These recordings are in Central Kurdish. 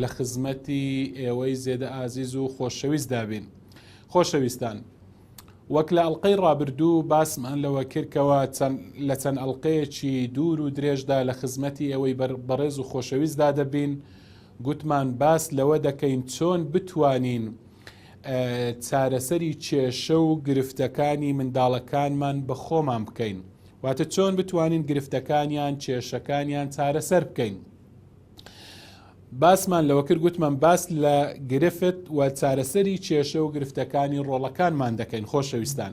لە خزمەتی ئێوەی زێدە ئازیز و خۆشەویست دابین خۆشەویستان وەک لە ئەڵلقەی ڕابردوو باسمان لەوە کردکەوە لە چەند ئەلقەیەکی دوور و درێژدا لە خزمەتی ئێوەی بەڕێز و خۆشەویستدا دەبین گوتمان باس لەوە دەکەین چۆن بتوانین چارەسەری کێشە و گرفتەکانی منداڵەکانمان بە خۆمان بکەین واتە چۆن بتوانین گرفتەکانیان کێشەکانیان چارەسەر بکەین باسمان لەوە کرد گوتمان باس لە گرفت و چارەسەری کێشە و گرفتەکانی ڕۆڵەکانمان دەکەین خۆشەویستان.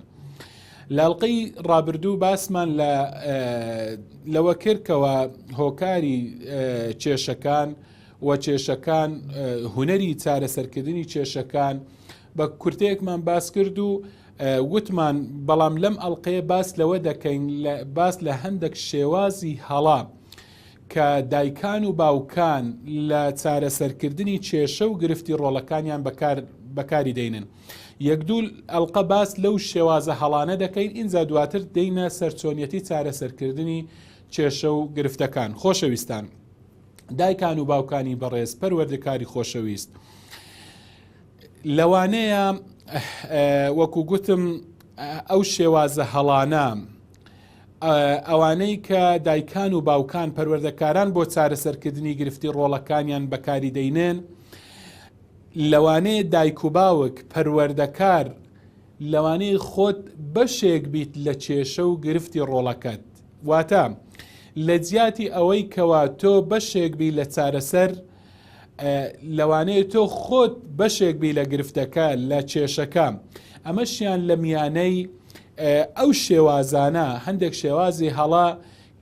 لاڵقەی ڕابردوو باسمان لەوە کردکەوە هۆکاری کێشەکان و کێشەکان هوەری چارەسەرکردنی کێشەکان بە کورتەیەکمان باس کرد و وتمان بەڵام لەم ئەڵلقەیە باس لەوە دەکەین باس لە هەندێک شێوازی هەڵا. کە دایکان و باوکان لە چارەسەرکردنی کێشە و گرفتی ڕۆڵەکانیان بەکار بەکاری دەینن یەک دوو ئەلقە باس لەو شێوازە هەڵانە دەکەین ئینجا دواتر دەینە سەرچۆنیەتی چارەسەرکردنی کێشە و گرفتەکان خۆشەویستان دایکان و باوکانی بەڕێز پەروەردەکاری خۆشەویست لەوانەیە وەکو گوتم ئەو شێوازە هەڵانە ئەوانەی کە دایکان و باوکان پەروەردەکاران بۆ چارەسەرکردنی گرفتی ڕۆڵەکانیان بەکاری دەینێن لەوانەیە دایک و باوک پەروەردەکار لەوانەیە خۆت بەشێک بیت لە کێشە و گرفتی ڕۆڵەکەت واتە لە جیاتی ئەوەی کەوا تۆ بەشێک بی لە چارەسەر لەوانەیە تۆ خۆت بەشێک بی لە گرفتەکە لە کێشەکە ئەمەشیان لە میانەی ئەو شێوازانە هەندێک شێوازی هەڵە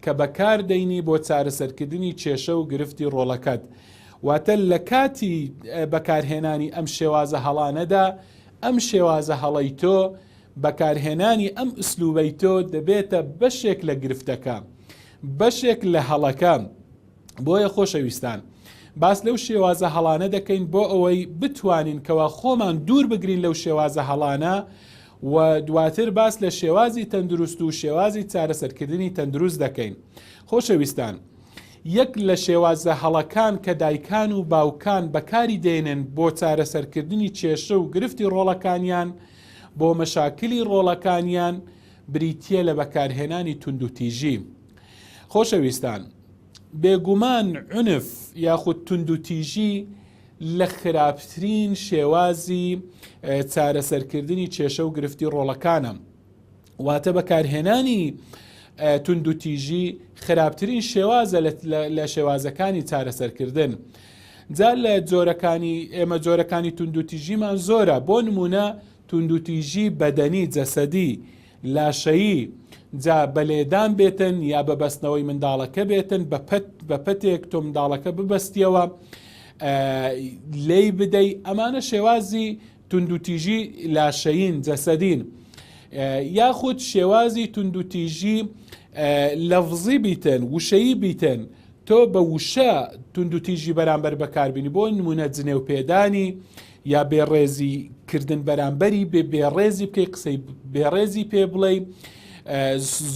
کە بەکار دەینی بۆ چارەسەرکردنی کێشە و گرفتی ڕۆڵەکەت واتە لە کاتی بەکارهێنانی ئەم شێوازە هەڵانەدا ئەم شێوازە هەڵەی تۆ بەکارهێنانی ئەم ئسلوبەی تۆ دەبێتە بەشێک لە گرفتەکە بەشێک لە هەڵەکە بۆیە خۆشەویستان باس لەو شێوازە هەڵانە دەکەین بۆ ئەوەی بتوانین کەوا خۆمان دوور بگرین لەو شێوازە هەڵانە و دواتر باس لە شێوازی تەندروست و شێوازی چارەسەرکردنی تەندروست دەکەین خۆشەویستان یەک لە شێوازە هەڵەکان کە دایکان و باوکان بەکاری دێنن بۆ چارەسەرکردنی کێشە و گرفتی ڕۆڵەکانیان بۆ مەشاکلی ڕۆڵەکانیان بریتە لە بەکارهێنانی توندوتیژی خۆشەویستان، بێگومان عنف یاخود توندوتیژی لە خراپترین شێوازی چارەسەرکردنی کێشە و گرفتی ڕۆڵەکانە. واتە بەکارهێنانی توندوتیژی خراپترین شێوازە لە شێوازەکانی چارەسەرکردن. جا لە جۆرەکانی ئێمە جۆرەکانی توندوتیژیمان زۆرە بۆ نمونە توندوتیژی بەدەنی جەسەدی لاشەیی، جا بە لێدان بێتن یا بە بەستنەوەی منداڵەکە بێتن بە پەت بە پەتێک تۆ منداڵەکە ببەستیەوە لێی بدەی ئەمانە شێوازی توندوتیژی لاشەین جەسەدین یاخود شێوازی توندوتیژی لەفزی بیتن وشەیی بیتن تۆ بە وشە توندوتیژی بەرامبەر بەکاربینی بۆ نمونە جنێو پێدانی یا بێ ڕێزی کردن بەرامبەری بێ بێ ڕێزی بکەی قسەی بێ ڕێزی پێ بڵێ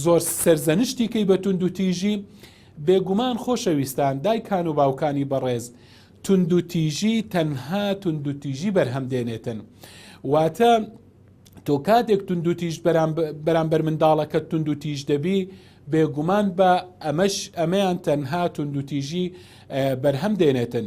زۆر سەرزەنشتیکەی بە تونند و تیژی بێگومان خۆشەویستان دایکان و باوکانی بەڕێز تونند و تیژی تەنها تونند و تیژی بەرهەم دێنێتن واتە تۆ کاتێک تونند و تیژ بەرامبەر منداڵەکە تونند و تیژ دەبی بێگومان بە ئەمەش ئەمەیان تەنها تونند و تیژی بەرهەم دێنێتن.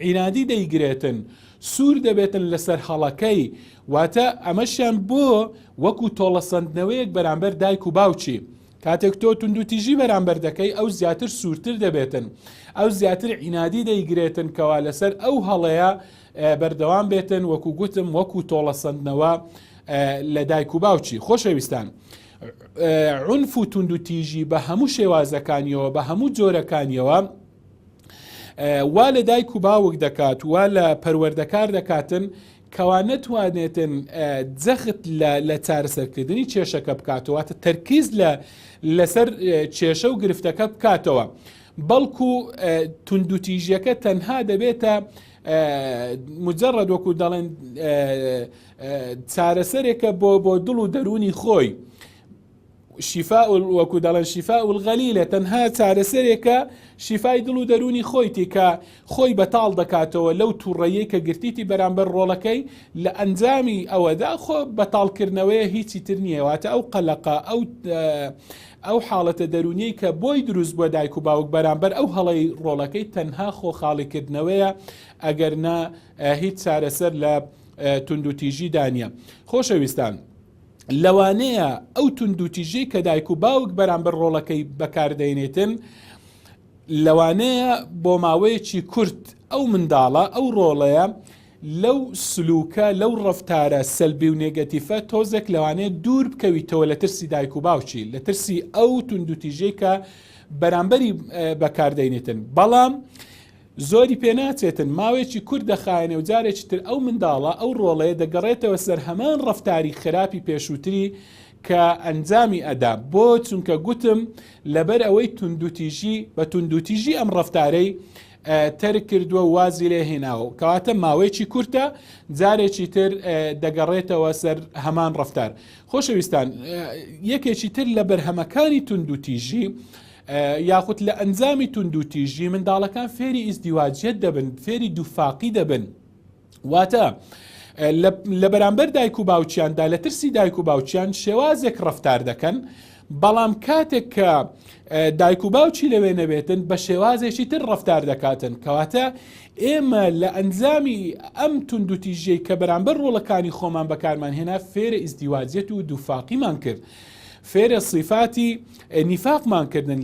عینادی دەیگرێتن سوور دەبێتن لەسەر هەڵەکەی واتە ئەمەشیان بۆ وەکو تۆڵەسەندنەوەیەک بەرامبەر دایک و باوکی کاتێک تۆ توندوتیژی بەرامبەر دەکەی ئەو زیاتر سوورتر دەبێتن ئەو زیاتر عینادی دەیگرێتن کەوا لەسەر ئەو هەڵەیە بەردەوام بێتن وەکو گوتم وەکو تۆڵەسەندنەوە لە دایک و باوکی خۆشەویستان. عنف و توندوتیژی بە هەموو شێوازەکانیەوە بە هەموو جۆرەکانیەوە وا لە دایک و باوک دەکات وا لە پەروەردەکار دەکاتن کەوا نەتوانێتن جەخت لە چارەسەرکردنی کێشەکە بکاتەوە تە تەرکیز لە لەسەر کێشە و گرفتەکە بکاتەوە بەڵکو توندوتیژیەکە تەنها دەبێتە مجرد وەکو دەڵێن چارەسەرێکە بۆ بۆ دڵ و دەرونی خۆی شیفا وەکو دەڵێن شیفا الغەلیلە تەنها چارەسەرێکە شیفای دڵ و دەرونی خۆیتی کە خۆی بەتاڵ دەکاتەوە لەو تووڕەیە کە گرتیتی بەرامبەر ڕۆڵەکەی لە ئەنجامی ئەوەدا خۆ بەتاڵکردنەوەیە هیچی تر نییەواتە ئەو قەلەقە ئەو ئەو حاڵەتە دەرونیەی کە بۆی دروست بووە دایک و باوک بەرامبەر ئەو هەڵەی ڕۆڵەکەی تەنها خۆ خاڵیکردنەوەیە ئەگەر نا هیچ چارەسەر لە توندوتیژی دانە خۆشەویستان. لەوانەیە ئەو توندوتیژەی کە دایک و باوک بەرامبەر ڕۆڵەکەی بەکاردەێنێتن لەوانەیە بۆ ماوەیەکی کورت ئەو منداڵە ئەو ڕۆڵەیە لەو سلوکە لەو ڕفتارە سەلبی و نێگەتیفە تۆزێک لەوانەیە دوور بکەویتەوە لە ترسی دایک و باوکی لە ترسی ئەو توندوتیژەی کە بەرامبەری بەکاردەینێتن بەڵام زۆری پێ ناچێتن، ماوەیەکی کورت دەخایەنێ و جارێکی تر ئەو منداڵە، ئەو ڕۆڵەیە دەگەڕێتەوە سەر هەمان ڕەفتاری خراپی پێشووتری کە ئەنجامی ئەدا، بۆ؟ چونکە گوتم لەبەر ئەوەی توندوتیژی، بە توندوتیژی ئەم ڕەفتارەی تەرک کردووە و وازی لێ هێناوە و کەواتە ماوەیەکی کورتە جارێکی تر دەگەڕێتەوە سەر هەمان ڕەفتار. خۆشەویستان، یەکێکی تر لە بەرهەمەکانی توندوتیژی، یاخود لە ئەنجامی توندوتیژی منداڵەکان فێری ئیزدیواجیەت دەبن فێری دووفاقی دەبن واتە لە بەرامبەر دایک و باوچیاندا لە ترسی دایک و باوچیان شێوازێک ڕفتار دەکەن بەڵام کاتێک کە دایک و باوچی لەوێ نەبێتن بە شێوازێکی تر ڕفتار دەکاتن کەواتە ئێمە لە ئەنجامی ئەم توندوتیژەی کە بەرامبەر ڕۆڵەکانی خۆمان بەکارمان هێنا فێرە ئیزدیواجێت و دووفاقیمان کرد فێرە سیفاتی نیفاقمان کردن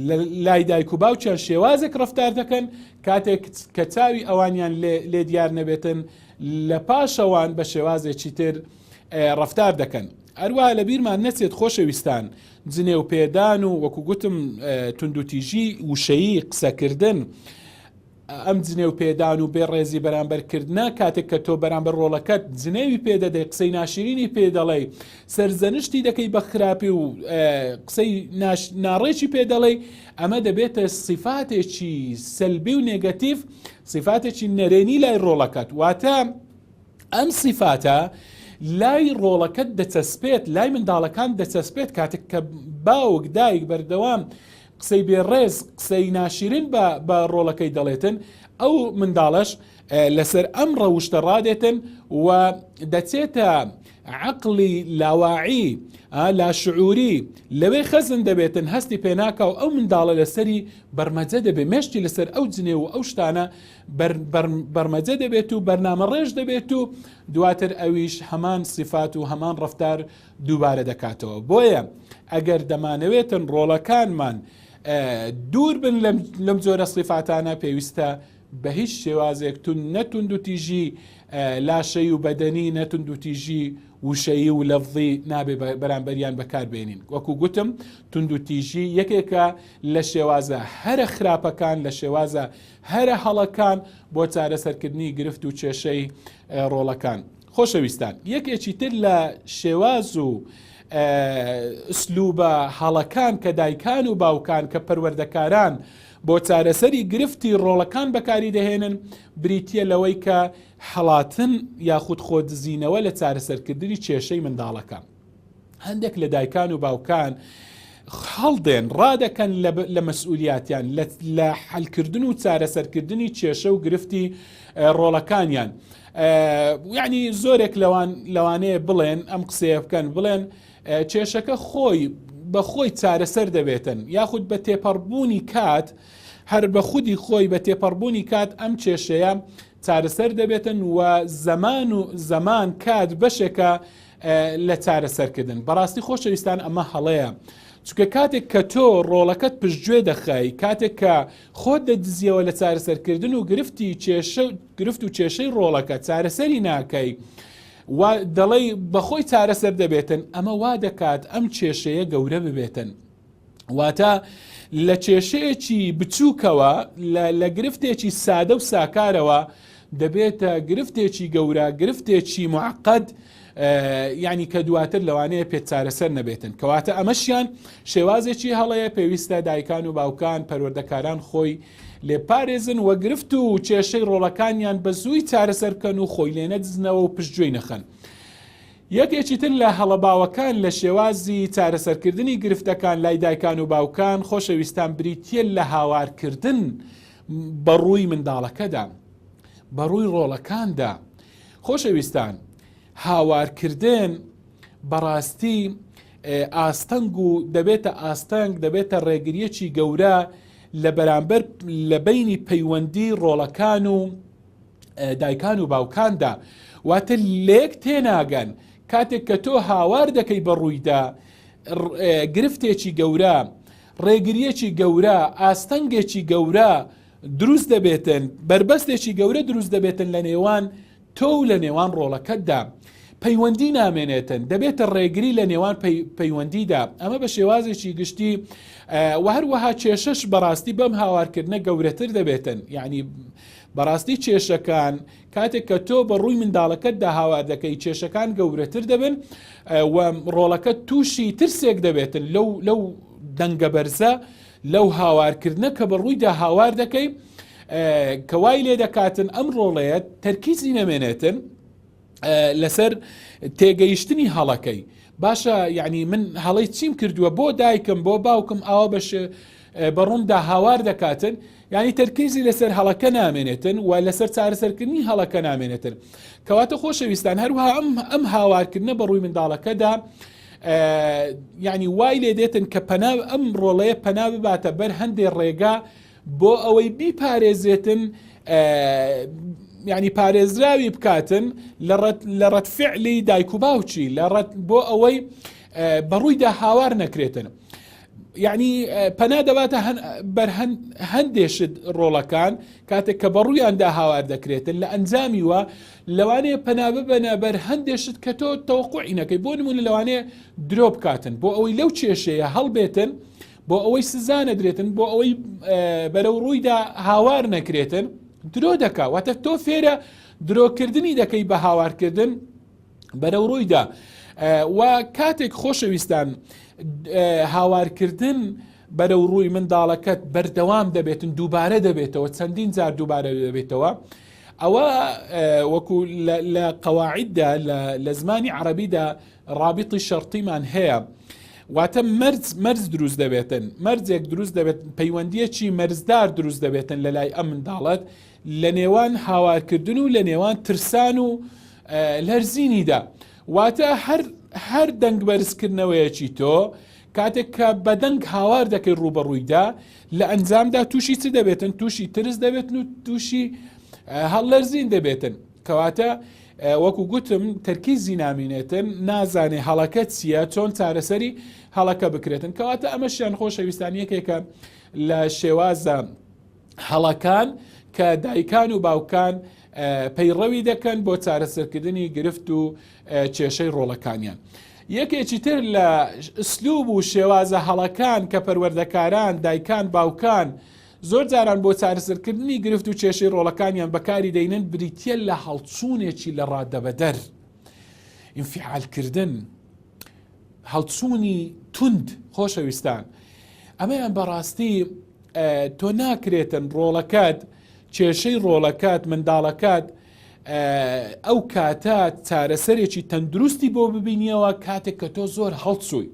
لای دایک و باوکیان شێوازێک ڕفتار دەکەن کاتێک کە چاوی ئەوانیان لێ دیار نەبێتن لە پاشەوان بە شێوازێکی تر ڕفتار دەکەن هەروە لە بیرمان نەچێت خۆشەویستان جنێو پێدان و وەکو گوتم توندوتیژی وشەیی قسەکردن ئەم جنێو پێدان و بێ ڕێزی بەرامبەر کردنە کاتێک کە تۆ بەرامبەر ڕۆڵەکەت جنێوی پێ دەدەی قسەی ناشرینی پێ دەڵێی سەرزەنشتی دەکەی بە خراپی و قسەی ناڕێکی پێ دەڵێی ئەمە دەبێتە سیفاتێکی سەلبی و نێگەتیف سیفاتێکی نەرێنی لای ڕۆڵەکەت واتە ئەم سیفاتە لای ڕۆڵەکەت دەچەسپێت لای منداڵەکان دەچەسپێت کاتێک کە باوک دایک بەردەوام قسەی بێ ڕێز قسەی ناشیرن بە بە ڕۆڵەکەی دەڵێتن ئەو منداڵەش لەسەر ئەم ڕەوشتە ڕادێتن و دەچێتە عقلی لاواعی لا شعوری لەوێ خەزن دەبێتن هەستی پێناکە و ئەو منداڵە لەسەری بەرمەجە دەبێت مێشتی لەسەر ئەو جنێ و ئەو شتانە بەرمەجە دەبێت و بەرنامە ڕێژ دەبێت و دواتر ئەویش هەمان سیفات و هەمان ڕفتار و دووبارە دەکاتەوە بۆیە ئەگەر دەمانەوێتن ڕۆڵەکانمان دوور بن لەم جۆرە سیفاتانە پێویستە بە هیچ شێوازێک تون نەتوند و تیژی لاشەی و بەدەنی نەتوند و تیژی وشەیی و لەفظی نابێ بەرامبەریان بەکاربێنین وەکو گوتم تونند و تیژی یەکێکە لە شێوازە هەرە خراپەکان لە شێوازە هەرە هەڵەکان بۆ چارەسەرکردنی گرفت و کێشەی ڕۆڵەکان خۆشەویستان یەکێکی تر لە شێواز و ئسلوبە هەڵەکان کە دایکان و باوکان کە پەروەردەکاران بۆ چارەسەری گرفتی ڕۆڵەکان بەکاری دەهێنن بریتە لەوەی کە حڵاتن یاخود خۆدزینەوە لە چارەسەرکردنی کێشەی منداڵەکە. هەندێک لە دایکان و باوکان هەڵدێن ڕادەکەن لە مەسئولیاتیان لە حلکردن و چارەسەرکردنی کێشە و گرفتی ڕۆڵەکانیان یعنی زۆرێک لەوان لەوانەیە بڵێن ئەم قسەیە بکەن بڵێن کێشەکە خۆی بە خۆی چارەسەر دەبێتن یاخود بە تێپەڕبوونی کات هەر بە خودی خۆی بە تێپەڕبوونی کات ئەم کێشەیە چارەسەر دەبێتن و زەمان و زەمان کات بەشێکە لە چارەسەرکردن. بەڕاستی خۆشەویستان ئەمە هەڵەیە. چونکە کاتێک کە تۆ ڕۆڵەکەت پشتگوێ دەخای کاتێک کە خۆت دەدزیەوە لە چارەسەرکردن و گرفتی کێشە گرفت و کێشەی ڕۆڵەکە چارەسەری ناکەی و دەڵێی بەخۆی چارەسەر دەبێتن ئەمە وا دەکات ئەم کێشەیە گەورە ببێتن واتە لە کێشەیەکی بچووکەوە لە گرفتێکی سادە و ساکارەوە دەبێتە گرفتێکی گەورە گرفتێکی معقد ینی کە دواتر لەوانەیە پێ چارەسەر نەبێتن کەواتە ئەمەشیان شێوازێکی هەڵەیە پێویستە دایکان و باوکان پەروەردەکاران خۆی لێ پارێزن وە گرفت و کێشەی ڕۆڵەکانیان بە زووی چارەسەر بکەن و خۆی لێ نەدزنەوە و پشتگوێی نەخەن. یەکێکی تر لە هەڵە باوەکان لە شێوازی چارەسەرکردنی گرفتەکان لای دایکان و باوکان خۆشەویستان بریتییە لە هاوارکردن بە ڕووی منداڵەکەدا بە ڕووی ڕۆڵەکاندا خۆشەویستان هاوارکردن بەڕاستی ئاستەنگ و دەبێتە ئاستەنگ دەبێتە ڕێگریەکی گەورە لە بەرامبەر لە بینی پەیوەندی ڕۆڵەکان و دایکان و باوکاندا واتە لێک تێناگەن کاتێک کە تۆ هاوار دەکەی بە ڕوویدا گرفتێکی گەورە ڕێگریەکی گەورە ئاستەنگێکی گەورە دروست دەبێتن بربەستێکی گەورە دروست دەبێتن لە نێوان تۆ و لە نێوان ڕۆڵەکەتدا پەیوەندی نامێنێتن دەبێتە ڕێگری لە نێوان پەیوەندیدا ئەمە بە شێوازێکی گشتی و هەروەها کێشش بەڕاستی بەم هاوارکردنە گەورەتر دەبێتن یعنی بەڕاستی کێشەکان کاتێک کە تۆ بە ڕووی منداڵەکەتدا هاوار دەکەی کێشەکان گەورەتر دەبن و ڕۆڵەکە تووشی ترسێک دەبێتن لەو لەو دەنگە بەرزە لەو هاوارکردنە کە بە ڕوویدا هاوار دەکەی کەوای لێ دەکاتن ئەم ڕۆڵەیە تەرکیزی نەمێنێتن لەسەر تێگەیشتنی هەڵەکەی باشە یعنی من هەڵی چیم کردووە بۆ دایکم بۆ باوکم ئاوا بەش بەڕووندا هاوار دەکاتن ینی تەرکیزی لەسەر هەڵەکە نامێنێتن و لەسەر چارەسەرکردنی هەڵەکە نامێنێتن کەواتە خۆشەویستان هەروها ئەم ئەم هاوارکردنە بە ڕووی منداڵەکەدا یعنی وای لێ دێتن کە پەنا ئەم ڕۆڵەیە پەنا بباتە بەر هەندێ ڕێگا بۆ ئەوەی بیپارێزێتن یعنی پارێزراوی بکاتن لە ڕەت فعلی دایک و باوچی لە ڕەت بۆ ئەوەی بەڕوویدا هاوار نەکرێتن. یعنی پەنا دەباتە بەرهەن هەندێشت ڕۆڵەکان کاتێک کە بەڕوویاندا هاوار دەکرێتن لە ئەنجامی وە لەوانەیە پەنا ببەنە بەر هەندێشت کە تۆ تەوقعینەکەی بۆ نمونە لەوانەیە درۆ بکاتن بۆ ئەوەی لەو کێشەیە هەڵبێتن بۆ ئەوەی سزا نەدرێتن بۆ ئەوەی بەرەو ڕوویدا هاوار نەکرێتن درۆ دەکا واتە تۆ فێرە درۆکردنی دەکەی بە هاوارکردن بەرەو ڕوویدا و کاتێک خۆشەویستان هاوارکردن بەرەو ڕووی منداڵەکەت بەردەوام دەبێتن دووبارە دەبێتەوە چەندین جار دووبارە دەبێتەوە ئەوە وەکو لە قەواعددا لە زمانی عربیدا ڕابیتی شەرتیمان هەیە واتە مەرز مەرز دروست دەبێتن مەرزێک دروست دەبێت پەیوەندیەکی مەرزدار دروست دەبێتن لە لای ئەم منداڵەت لە نێوان هاوارکردن و لە نێوان ترسان و لەرزینیدا واتە هەر هەر دەنگ بەرزکردنەوەیەکی تۆ کاتێک کە بەدەنگ هاوار دەکەی ڕوبەڕوویدا لە ئەنجامدا تووشی چ دەبێتن تووشی ترس دەبێتن و تووشی هەڵلەرزین دەبێتن کەواتە وەکو گوتم تەرکیزی نامینێتن نازانێ هەڵەکە چییە چۆن چارەسەری هەڵەکە بکرێتن کەواتە ئەمە شیان خۆشەویستان یەکێکە لە شێوازە هەڵەکان کە دایکان و باوکان پەیڕەوی دەکەن بۆ چارەسەرکردنی گرفت و کێشەی ڕۆڵەکانیان. یەکێکی تر لە ئسلوب و شێوازە هەڵەکان کە پەروەردەکاران دایکان باوکان زۆر جاران بۆ چارەسەرکردنی گرفت و کێشەی ڕۆڵەکانیان بەکاری دەینن بریتییە لە هەڵچوونێکی لە ڕادەبەدەر ئینفیعالکردن هەڵچوونی توند خۆشەویستان ئەمەیان بەڕاستی تۆ ناکرێتن ڕۆڵەکەت کێشەی ڕۆڵەکەت منداڵەکەت ئەو کاتە چارەسەرێکی تەندروستی بۆ ببینیەوە کاتێک کە تۆ زۆر هەڵچووی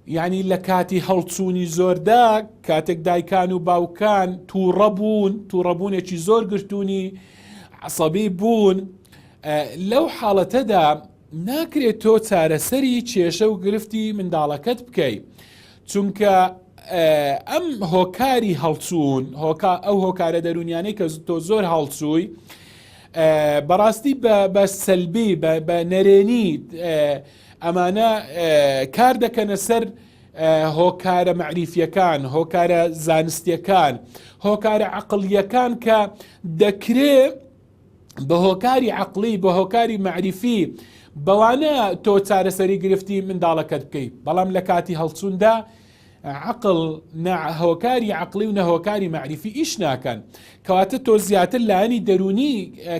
یعنی لە کاتی هەڵچوونی زۆردا کاتێک دایکان و باوکان تووڕە بوون تووڕەبوونێکی زۆر گرتوونی عسەبی بوون لەو حاڵەتەدا ناکرێت تۆ چارەسەری کێشە و گرفتی منداڵەکەت بکەیت چونکە ئەم هۆکاری هەڵچوون هۆکا ئەو هۆکارە دەرونیانەی کە تۆ زۆر هەڵچووی بەڕاستی بە سەلبی بە نەرێنی ئەمانە کار دەکەنە سەر هۆکارە مەعریفیەکان هۆکارە زانستیەکان هۆکارە عقلیەکان کە دەکرێ بە هۆکاری عقلی بە هۆکاری معریفی بەوانە تۆ چارەسەری گرفتی منداڵەکەت بکەیت بەڵام لە کاتی هەڵچووندا عقل هۆکاری عقلی و نەهۆکاری معریفی ئیش ناکەن کەواتە تۆ زیاتر لایەنی دەرونی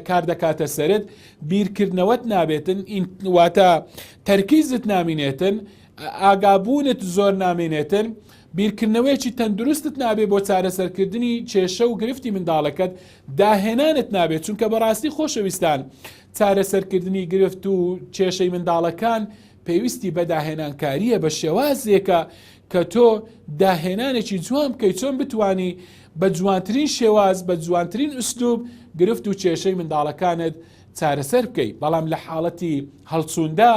کار دەکاتە سرت بیرکردنەوەت نابێتن واتە تەرکیزت نامینێتن ئاگابوونت زۆر نامێنێتن بیرکردنەوەیەکی تەندروستت نابێ بۆ چارەسەرکردنی کێشە و گرفتی منداڵەکەت داهێنانت نابێت چونکە بەڕاستی خۆشەویستان چارەسەرکردنی گرفت و کێشەی منداڵەکان پێویستی بە داهێنانکاریە بە شێوازێکە کە تۆ داهێنانێکی جوان بکەیت چۆن بتانی بە جوانترین شێواز بە جوانترین ئوسلوب گرفت و کێشەی منداڵەکانت چارەسەر بکەیت بەڵام لە حاڵەتی هەڵچووندا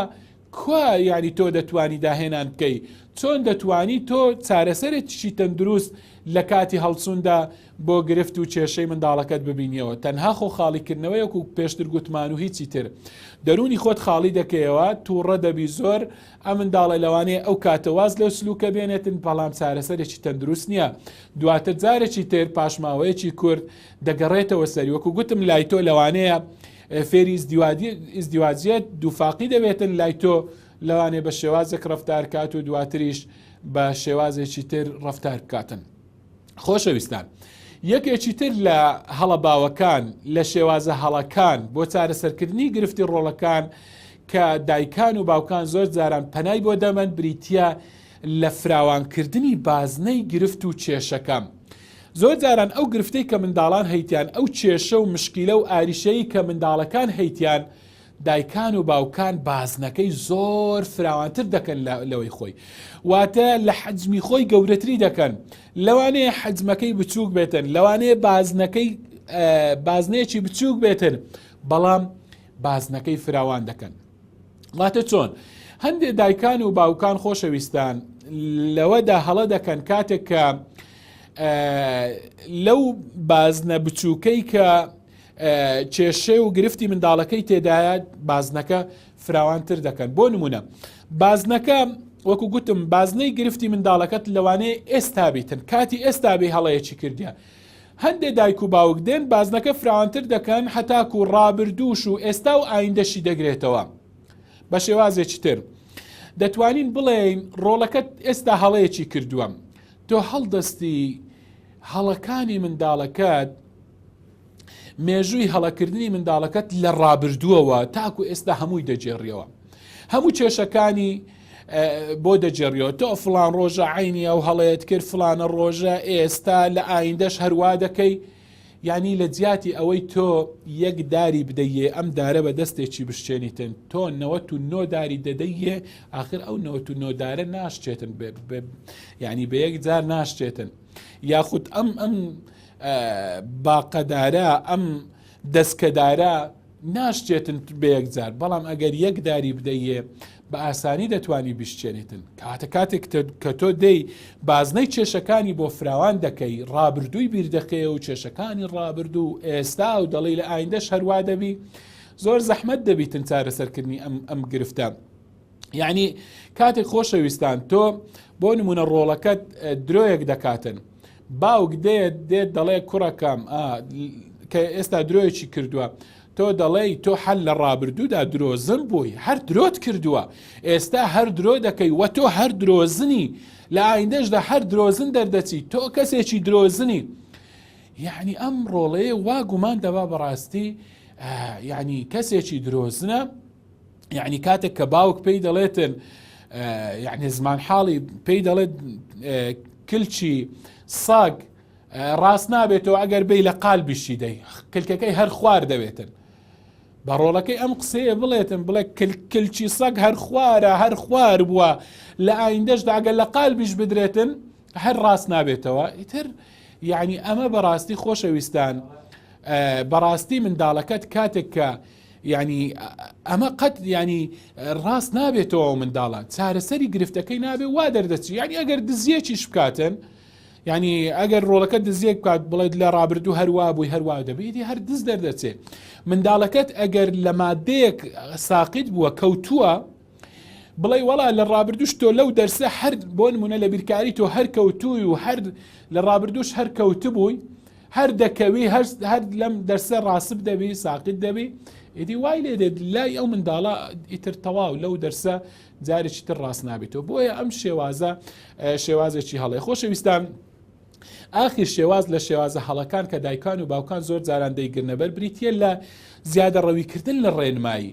کوا یانی تۆ دەتوانی داهێنان بکەی چۆن دەتوانی تۆ چارەسەرێک چی تەندروست لە کاتی هەڵسوندا بۆ گرفت و کێشەی منداڵەکەت ببینیەوە تەنها خۆ خاڵیکردنەوەیەک و پێشتر گوتمان و هیچی تر دەرونی خۆت خاڵی دەکەیەوە تووڕە دەبی زۆر ئەم منداڵە لەوانەیە ئەو کاتە واز لەو سلوکە بێنێتن بەڵام چارەسەرێکی تەندروست نییە دواتە جارێکی تر پاشماوەیەکی کورد دەگەڕێتەوە سەری وەکو گوتم لای تۆ لەوانەیە فێری ئیزدیواجیت دووفاقی دەبێتن لای تۆ لەوانێ بە شێوازێک ڕفتارکات و دواتریش بە شێوازێکی تر ڕفتار بکاتن خۆشەویستان یەکێکی تر لە هەڵە باوەکان لە شێوازە هەڵەکان بۆ چارەسەرکردنی گرفتی ڕۆڵەکان کە دایکان و باوکان زۆر جاران پەنای بۆ دەمەند بریتە لە فراوانکردنی بازنەی گرفت و کێشەکەم زۆر جاران ئەو گرفتەی کە منداڵان هەیتیان، ئەو کێشە و مشکیلە و ئاریشەیی کە منداڵەکان هەیتیان، دایکان و باوکان بازنەکەی زۆر فراوانتر دەکەن لە لەوەی خۆی. واتە لە حەجمی خۆی گەورەتری دەکەن. لەوانەیە حەجمەکەی بچووک بێتن، لەوانەیە بازنەکەی بازنەیەکی بچووک بێتن، بەڵام بازنەکەی فراوان دەکەن. واتە چۆن هەندێک دایکان و باوکان خۆشەویستان لەوەدا هەڵە دەکەن کاتێک کە لەو بازنە بچووکەی کە کێشێ و گرفتی منداڵەکەی تێدایە بازنەکە فراوانتر دەکەن بۆ نمونە بازنەکە وەکو گوتم بازنەی گرفتی منداڵەکەت لەوانەیە ئێستا بیتن کاتی ئێستا بێ هەڵەیەکی کردیان هەندێ دایک و باوک دێن بازنەکە فراوانتر دەکەن هەتاکو ڕابردووش و ئێستا و ئایندەشی دەگرێتەوە بە شێوازێکی تر دەتوانین بڵێین ڕۆڵەکەت ئێستا هەڵەیەکی کردووە تۆ هەڵدەستی هەڵەکانی منداڵەکەت مێژووی هەڵەکردنی منداڵەکەت لە ڕابردووەوە تاکو ئێستا هەمووی دەگێڕیەوە هەموو کێشەکانی بۆ دەجێڕیەوە تۆ فلان ڕۆژە عینی ئەو هەڵەیەت کرد فلانە ڕۆژە ئێستا لە ئایندەش هەروا دەکەی ینی لە جیاتی ئەوەی تۆ یەک داری بدەیە ئەم دارە بە دەستێکی بشتێنیتن تۆ نەوە و نۆداری دەدەیە آخر ئەو نەوە و نۆدارە ناشتێتن ینی بە یەک جار ناشتێتن یاخود ئەم ئەم باقەدارە ئەم دەسکەدارە ناشچێتن بە یەکجار بەڵام ئەگەر یەک داری بدەیێ بە ئاسانی دەتوانی بشچێنیتن کاتە کاتێک کە تۆ دەی بازنەی کێشەکانی بۆ فراوان دەکەی ڕابردووی بیردەکەی و کێشەکانی ڕابردوو و ئێستا و دەڵی لە ئایندەش هەروا دەبی زۆر زەحمت دەبیتن چارەسەرکردنی ئەم ئەم گرفتە یعنی کاتێک خۆشەویستان تۆ بۆ نمونە ڕۆڵەکەت درۆیەک دەکاتن باوک دێت دێت دەڵێ کوڕەکەم کە ئێستا درۆیەکی کردووە تۆ دەڵێی تۆ حەل لە ڕابردوودا درۆزن بووی هەر درۆت کردووە ئێستا هەر درۆ دەکەی وە تۆ هەر درۆزنی لە ئایندەشدا هەر درۆزن دەردەچی تۆ کەسێکی درۆزنی یعنی ئەم ڕۆڵەیە وا گومان دەبا بەڕاستی یعنی کەسێکی درۆزنە یعنی کاتێک کە باوک پێی دەڵێتن یعنی زمان حاڵی پێی دەڵێت کلچی ساگ ڕاست نابێتەوە ئەگەر بی لە قال بشی دەی کلکەکەی هەر خوار دەوێتن بە ڕۆڵەکەی ئەم قسەیە بڵێتن بڵێ کلچی سەگ هەر خوارە هەر خوار بووە لە ئایندەشدا ئەگەر لە قال بیش بدرێتن هەر ڕاست نابێتەوە ئیتر یعنی ئەمە بەڕاستی خۆشەویستان بەڕاستی منداڵەکەت کاتێک کە یانی ئەمە قەت ینی ڕاست نابێتەوە منداڵە چارەسەری گرفتەکەی نابێ وا دەردەچی ینی ئەگەر دزیەکیش بکاتن ینی ئەگەر ڕۆڵەکە دزیەک بکات بڵێت لە ڕابردوو هەروا بووی هەروا دەبیتی هەر دز دەردەچێت منداڵەکەت ئەگەر لە مادەیەک ساقیت بووە کەوتووە بڵێی وەڵا لە ڕابردوش تۆ لەو دەرسە هەر بۆ نمونە لە بیرکاری تۆ هەر کەوتووی و هەر لە ڕابردوش هەر کەوتبووی هەر دەکەوی هەر لەم دەرسە ڕاسب دەبی ساقت دەبی ئیدی وای لێ دێت لای ئەو منداڵە ئیتر تەواو لەو دەرسە جارێکی تر ڕاست نابێتەوە بۆیە ئەم شێوازە شێوازێکی هەڵێ خۆشەویستان ئاخر شێواز لە شێوازە هەڵەکان کە دایکان و باوکان زۆر جاران دەیگرنەبەر بریتە لە زیادە ڕەویکردن لە ڕێنمایی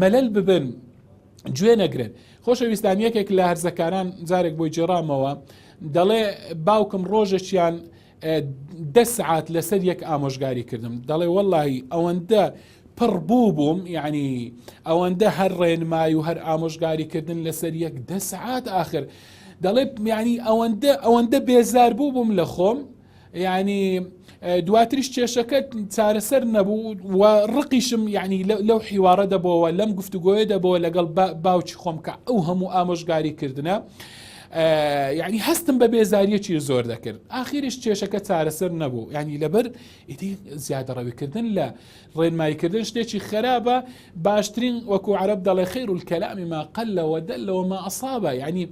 مەلەل ببن گوێ نەگرن خۆشەویستان یەکێک لە هەرزەکاران جارێک بۆی جێڕامەوە دەڵێ باوکم ڕۆژێکیان دە سعات لەسەر یەک ئامۆژگاری کردم دەڵێ واللهی ئەوەندە پڕ بوو بووم یعنی ئەوەندە هەر ڕێنمای و هەر ئامۆژگاریکردن لەسەر یەک دە سعات آخر دەڵێ میانی ئەوەندە ئەوەندە بێزار بوو بووم لە خۆم یعنی دواتریش کێشەکە چارەسەر نەبوو و ڕقیشم یعنی لەو حیوارە دەبەوە لەم گفتوگۆیە دەبەوە لەگەڵ باوکی خۆم کە ئەو هەموو ئامۆژگاری کردنە یعنی هەستم بە بێزاریەکی زۆر دەکرد ئاخیریش کێشەکە چارەسەر نەبوو ینی لەبەر ئیدی زیادەڕەویکردن لە ڕێنماییکردن شتێکی خراپە باشترین وەکو عرب دەڵێ خیر و کەلامی ما قەلەوە دەلەوە ما ئەسابە ینی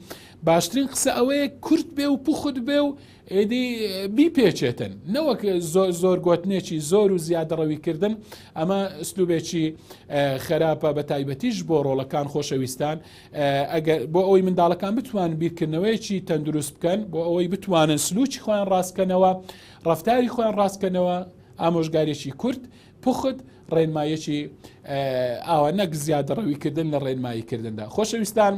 باشترین قسە ئەوەیە کورت بێ و پوخت بێ و ئیدی بیپێچێتن نەوەک زۆر زۆر گوتنێکی زۆر و زیادەڕەوی کردن ئەمە ئەسلوبێکی خراپە بە تایبەتیش بۆ ڕۆڵەکان خۆشەویستان بۆ ئەوەی منداڵەکان بتوان بیرکردنەوەیەکی تەندروست بکەن بۆ ئەوەی بتوانن سلوکی خۆیان ڕاستکەنەوە ڕفتاری خۆیان ڕاستکەنەوە ئامۆژگارێکی کورت پخت ڕێنمایەکی ئاوا نەک زیادەڕەویکردن لە ڕێنماییکردندا خۆشەویستان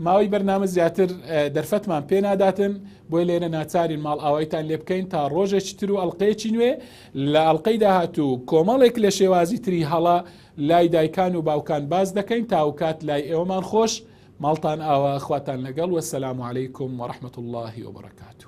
ماوەی بەرنامە زیاتر دەرفەتمان پێ ناداتن بۆی لێرە ناچارین ماڵ ئاوایتان لێ بکەین تا ڕۆژێکی تر و ئەڵلقەیەکی نوێ لە ئەڵلقەی داهاتوو کۆمەڵێک لە شێوازی تری هەڵە لای دایکان و باوکان باز دەکەین تاوکات لای ئێوەمان خۆش ماڵتان ئاوا خواتان لەگەڵ وەسەلام عیکم وەرحمەت اللهی وبرکاته